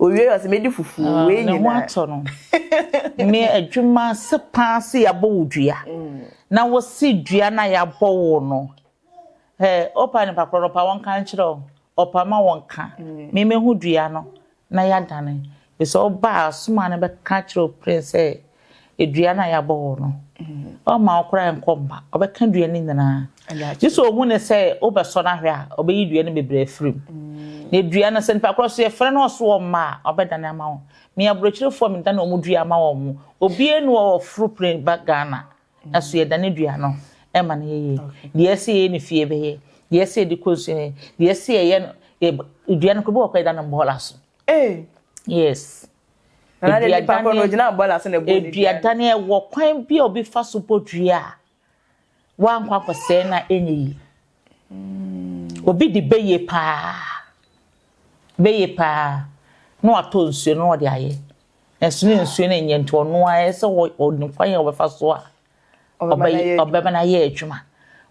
Owie ɔsɛ medi fufuo ah, wei nyinaa. Ne ho atɔ no. Me adwuma se paa se yɛabɔ wo dua. Mm. Na wɔsi dua na yɛabɔ wo no. Ɛ ɔpa nipa korɔ no ɔpa wɔn ka nkyerɛ o. Ɔpa ma wɔn ka. Mm. Me mehu dua no na yɛadane. Bisa ɔba asoma no bɛka kyerɛ prince sɛ dua no a yɛabɔ wo no, ɔmma wo koraa nkɔ mma, ɔbɛka dua no nyinaa. Gye sɛ ɔhu ne sɛ wobɛsɔ no ahwɛ a, ɔbɛyi dua no bebree afiri mu. Mm. Na dua no sɛ nipa korɔ so yɛfrɛ no ɔso wɔ mma a, ɔbɛdane ama wo. Me aborɔkyirifoɔ medane wɔn dua ama wɔn mo. Obiara ni wɔ ɔforo pene ba Ghana, na so yɛdane dua no ɛma no yɛyɛ. Deɛ ɛsɛ yɛyɛ ne fie bɛyɛ, deɛ ɛsɛ yɛde kɔ nsuo yɛ, deɛ ɛsɛ yɛyɛ no, dua no korɔ bi wɔ kɔ yɛda no mbɔɔla so. Yes. Eduadane wɔ kwan bi a obi fa so bɔ dua a wankɔ akɔsɛe no a ɛnyɛ yie. Obi de bɛyɛ paa, bɛyɛ paa na watɔ nsuo no na ɔde ayɛ. Nanso ne nsuo no nyɛ nti ɔno ara ɛsɛ ɔnim kwan a ɔbɛfa so a ɔbɛma no ayɛ adwuma.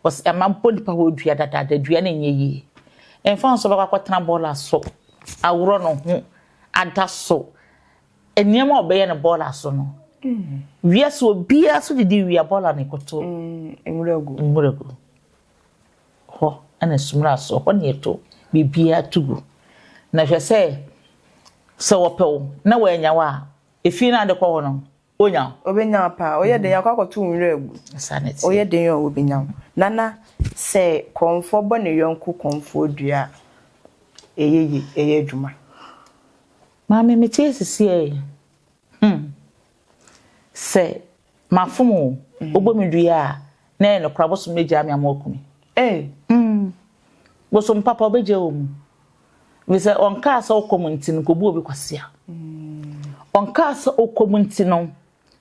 Wɔsi ɛma mpo nipa wɔ dua dadaada, dua no nyɛ yie. Ɛmfa ho sɛ ɔbɛkɔ akɔtena bɔɔla so, aworɔ ne ho, ada so, nneɛma a ɔbɛyɛ no bɔɔla so no, wiase obiara so didi wie a bɔɔla na ɛkɔto nwura gu. Hɔ na sumina so, hɔ na ɛto, biribiara to gu. Na hwɛ sɛ, sɛ wɔpɛ wo na wɔannya wo a, efie no a wode kɔ hɔ no, Onya wo. Obenya wo paa. Oyɛ den akɔ akɔto wo nwura gu. Saa na ɛteɛ. Oyɛ den oo, obenya wo. Nana, sɛ kɔmfoɔ bɔ ne yɔnko kɔmfoɔ dua a, ɛyɛ yie, ɛyɛ adwuma. Maame, mete ase seɛ ee. Hmm. Sɛ mafom oo, wobɔ me dua a, na ɛyɛ nokorɛ a, bosom no agyaa me ama waku me. Ee. Hmm. Bosom papa, ɔbɛgyaa wo mu. Ɛfiri sɛ ɔnkaa sɛ wokɔ mu nti no kɔbu obi kwasea. Ɔnkaa sɛ wokɔ mu nti no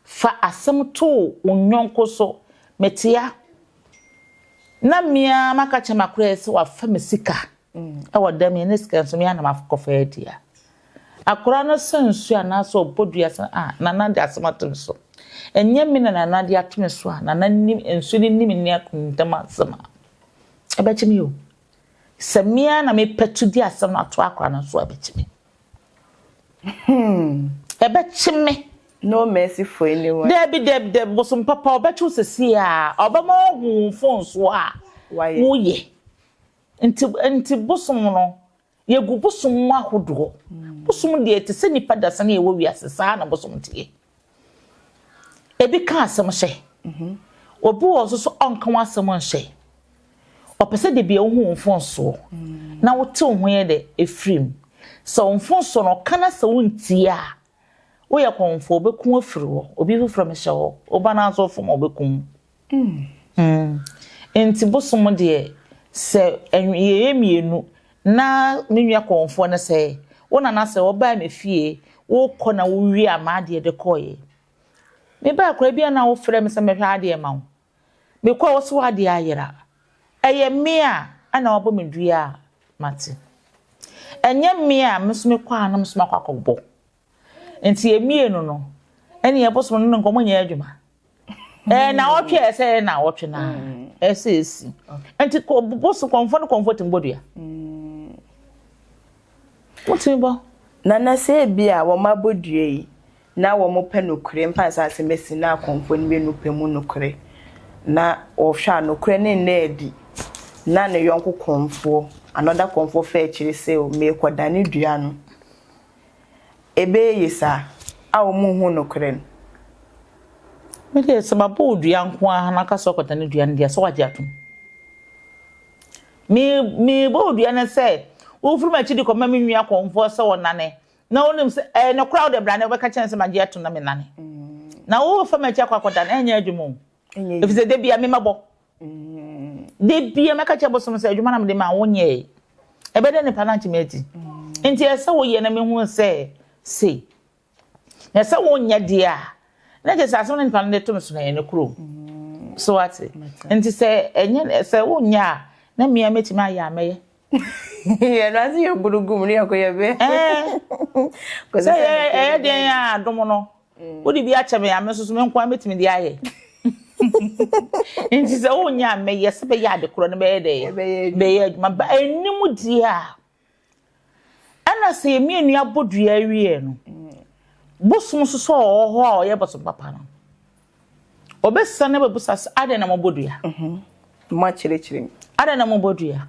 fa asɛm to wo yɔnko so. Mete ha na me ara maka kyerɛ m'akoraeɛ sɛ wafa me sika wɔ dɛm yɛ na sika nso me ara na makɔfa adi a, akora no sɛ nsuo anaasɛ ɔbɔ dua sɛ a Nana de asɛm ato me so. Ɛnyɛ me na Nana de ato me so a, Nana nim, nsuo no nim ne akontam asɛm a, ɛbɛkye me o. Sɛ me ara na mepatu de asɛm no ato akora no so a ɛbɛkye me. Hmm. Ɛbɛkye me. No mercy for anyone. Dabi dabi dabi bosom papa ɔbɛkye wo sɛsi a ɔbɛma ɔhu wo mfonso a woyɛ. Nti nti bosom no yɛgu bosom mu ahodoɔ. Hmm. Bosom deɛ te sɛ nipa dasani a ɛwɔ wiase saa na bosom teɛ. Ebi ka asɛm hyɛ. Obi wɔ hɔ nso so ɔnka ho asɛm nhyɛ. Ɔpɛ sɛ da biara wohu wo mfomsoɔ na wote wo ho yɛ dɛ firi mu. Sɛ wo mfomsoɔ no ɔka na sɛ wontie a, woyɛ kɔmfoɔ, ɔbɛku afiri hɔ. Obi foforɔ mehyɛ hɔ, wo ba no ara nso wofom a ɔbɛkum wo. Nti bosom deɛ sɛ yɛyɛ mmienu na me nua kɔnfoɔ no sɛ wo nana sɛ ɔbaa me fie wokɔ na wowie a maa deɛ de kɔeɛ me baa koraa bi a na wofrɛ me sɛ mɛhwɛ adeɛ ma wo me kɔ a wose w'adeɛ ayera ɛyɛ me a ɛna wabɔ me dua a mate ɛnyɛ me a me nso mekɔ a na me nso makɔ akɔbɔ Nti yɛn mmienu no, ɛne yɛn bosom no ne nkɔmmɔ nyɛ adwuma. Ɛɛ naawɔtwe a ɛsɛ yɛ naawɔtwe na ɛsɛ esi. Nti bosom kɔmfɔ no kɔmfɔ tumi bɔ dua. Wotumi bɔ. Na na sɛ ebi a wɔn abɔ dua yi na wɔn pɛ nokorɛ mfa nsa ase mesi na akɔmfɔ no mmienu pɛ mu nokorɛ na wɔhwɛ a nokorɛ ne nna adi na ne yɔnko kɔmfoɔ another kɔmfoɔ fɛ akyiri sɛ o meekɔdane dua no. Ebeye ye saa a ɔmo nhu nokorɛ no. Me deɛ sɛ mabɔ wo dua nko ara na aka sɛ ɔkɔdane dua no deɛ sɛ wagye atom. Me me bɔ wo dua ne sɛ wo firi m'akyi de kɔma me nua kɔmfoɔ sɛ ɔnane na wonim sɛ ɛyɛ nokorɛ a wode bra na wobɛka kyerɛ no sɛ magye atom na menane na wo fa m'akyi akɔ akɔdane ɛnyɛ adwuma o. Ɛfiri sɛ da biara me mɛbɔ. Da biara mɛka kyerɛ bosom sɛ adwuma na mede ma wo nyɛe. Ɛbɛdɛ nipa no antumi adi. Nti ɛsɛ woyɛ na mehu sɛ sei. Na ɛsɛ wonyɛ deɛ a na kyerɛ sɛ asɛm no nipa no de to no so na ɛyɛ ne kuro. So ate? Nti sɛ ɛnyɛ sɛ wonyɛ a na mmea mɛtumi ayɛ a mɛyɛ. Yɛ na se yɛ buru gum ne yɛ ko yɛ be. Ɛɛ. Sɛ yɛ ɛyɛ den a dom no. Mm. Wode bi akyɛ me a me nso so me nko a metumi de ayɛ. Nti sɛ wonya a mɛyɛ sɛ bɛyɛ ade korɔ no bɛyɛ dɛ bɛyɛ adwuma ba anim deɛ a ɛna sɛ yɛmi anu abɔ dua awie no mm. bosom nso sɛ ɔwɔ hɔ a ɔyɛ bosom papa no Wɔbɛsane abɛbusa sɛ, Adɛn na mobɔ dua? Moakyerɛkyerɛ mu. Adɛn na mobɔ dua?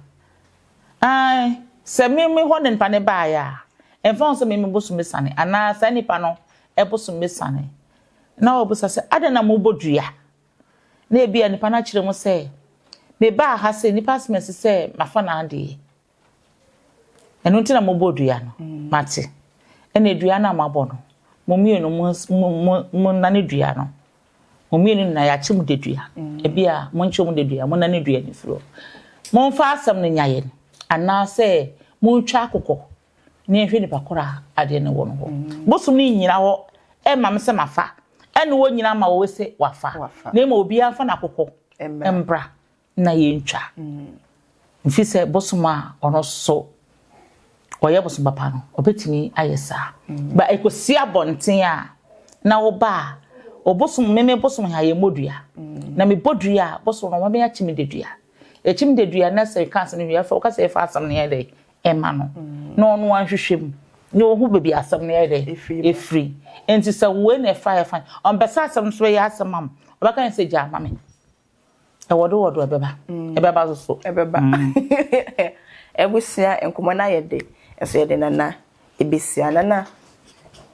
Aane, sɛ me me hɔ na nipa no baeɛ a, ɛmfa ho sɛ me me bosom bɛsiane anaa saa nipa no bosom bɛsiane, na wɔbisa sɛ, Adɛn na mobɔ dua? Na ebia nipa no akyerɛ mu sɛ, Mebaa ha sɛ nnipa asoma asi sɛ mafa n'adeɛ. Ɛno nti na mobɔ dua no. Mate. Ɛnna dua no a moabɔ no, mo mmienu monnane dua no. Mo mmienu nyinaa yɛakye mo dedua. Ebia monkye mo dedua, monnane dua no mfiri hɔ. Momfa asɛm no nya yɛn, anaasɛ montwa akokɔ na yɛnhwɛ nipa korɔ a adeɛ no wɔ no hɔ. Bosom no nnyina hɔ mma me sɛ mafa, ɛnna wɔnnyina mma wɔn sɛ wɔafa, na mmom obiara mfa n'akokɔ mmra. na yɛntwa mfiri sɛ bosom a ɔno so ɔyɛ bosom papa no ɔbɛtumi ayɛ saa ba ɛkɔsi abɔnten a na woba a ɔbosom meme bosom ha yɛmmɔ dua na mebɔ dua a bosom no wɔbɛyɛ akyim de dua ɛkyim de dua na sɛ ka asɛm no wie woka sɛ yɛfa asɛm no yɛ dɛ ɛma no na ɔno anhwehwɛ mu na ɔhu baabi asɛm no yɛ dɛ ɛfiri nti sɛ wei na ɛfa yɛfa ɔmpɛ sɛ asɛm no so bɛyɛ asɛm am ɔbɛka ne sɛ gyaa ma me Ɛwɔdowɔdo ɛbɛba. Mm. Ɛbɛba soso. Ɛbɛba. Mm. Abusua nkɔmɔ no ayɛ de. Nso yɛde nana ebesia nana.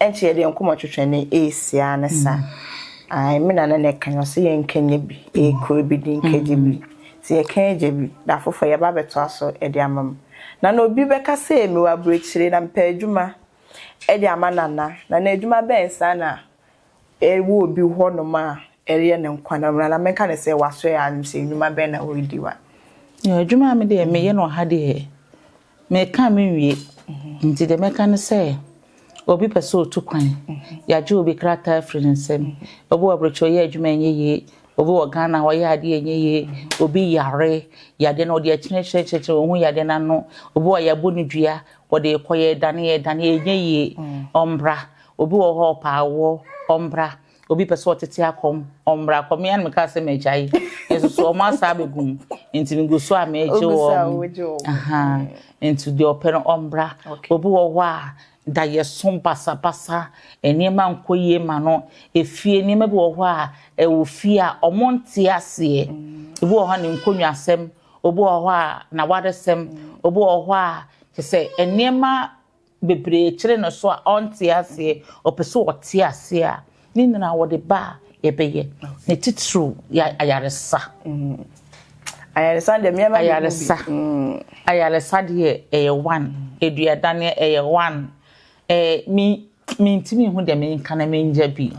Ɛnkyɛ yɛde nkɔmɔ twetwe ne esia ne sa. Mm. Ai me nana na ɛka yɛn so yɛn nkɛnyɛ bi. Ekuro mm. bi di nkɛgye bi. Sɛ yɛka agya bi da afoforɔ yɛba abɛtoa so de ama m na na obi bɛka sɛ mewɔ aburokyire na mpɛ adwuma de ama nana nana adwuma bɛn saa na Ewu obi hɔ nom a ɛreyɛ ne nkwa na mmra na menka ne sɛ wasɔɛ a nim sɛ nnwuma bɛn na ɔredi wa. Yɛ adwuma a me deɛ me yɛ no ɔha deɛ me ka me nwie nti deɛ mɛka ne sɛ obi pɛ sɛ ɔtu kwan yɛagye obi krataa afiri ne nsam obi wɔ abrɛkyɛ ɔyɛ adwuma ɛnyɛ yie obi wɔ Ghana ɔyɛ adeɛ ɛnyɛ yie obi yare yadeɛ no ɔde akyerɛ kyerɛ kyerɛ kyerɛ ɔhu yadeɛ no ano obi wɔ yɛabɔ ne dua ɔde kɔ yɛ dane yɛ dane ɛnyɛ yie ɔmbra Obi wɔ hɔ a ɔpɛ awoɔ, ɔmmra. Obi pɛ sɛ ɔtete akɔm, ɔmmra. Kɔ me ara na mekaa sɛ magyae. Nanso so wɔn asan abɛgu mu? Nti megu so a megye wɔn. Wogu so a wogye wɔn. Ahaa. Nti deɛ ɔpɛ no ɔmmra. Obi wɔ hɔ a dayɛso, basabasa, nneɛma nkɔ yie ma no. Efie, nneɛma bi wɔ hɔ a ɛwɔ fie a wɔnte aseɛ. Ebi wɔ hɔ a ne nkonnwasɛm, obi wɔ hɔ a n'awaresɛm, obi wɔ hɔ a kyerɛ sɛ nneɛma bebree kyere no so a ɔnte aseɛ, ɔpɛ sɛ ɔte aseɛ a, ne nyinaa wɔde ba a yɛbɛyɛ. Ne titiriw yɛ ayaresa. Ayaresa deɛ mmeɛma bi Ayaresa. Ayaresa deɛ ɛyɛ one. Aduadaneɛ ɛyɛ one. Ɛɛ me mentumi nhu deɛ menka na menya bi.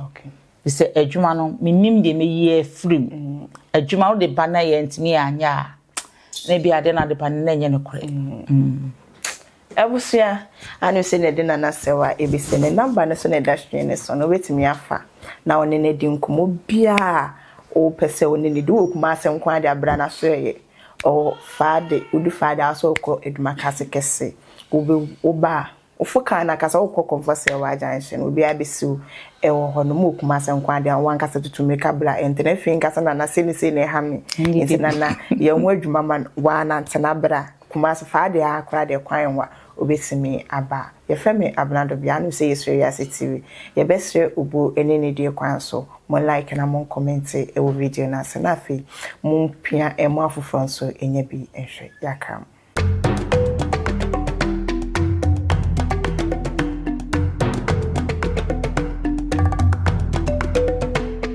Te sɛ adwuma no, mennim deɛ mɛyi afiri mu. Adwuma no de ba na yɛntumi anyɛ a, na ebi ade no ade ba no na ɛnyɛ nokorɛ. Abusua a no sɛ na ɛde Nana asɛw a ebesi ne number no so na ɛda screen no so no wobɛtumi afa na ɔne no adi nkɔmmɔ biara a wopɛ sɛ wo ne no di. Wowɔ Kumase nko ara de a bra na so ɛyɛ ɔwɔ Fade, wodu Fade a wosɛ wokɔ Adwumakase kɛse, wobe woba a wofo kar no ankasa wokɔ Kɔmfɔse Awaa junction obiara bɛsi wo ɛwɔ hɔ nom wɔ Kumase nko ara de a wankasa tutu mmirika bra ɛntɛ na afei nkasa Nana sei ne sei na ɛha me nti Nana yɛ ho adwuma ma no waa nantena bra. Kumasi faa deɛ aa koraa deɛ kwan nwa obetumi aba yɛfrɛ me Abena Dobia anom sɛ yɛsrɛ wiase TV yɛbɛsrɛ obuo ɛne anidie kwan so mo like na mo nkɔmɛnte ɛwɔ video no ase na afei mo mpia ɛmo afoforɔ nso ɛnya bi nhwɛ yɛaka mo.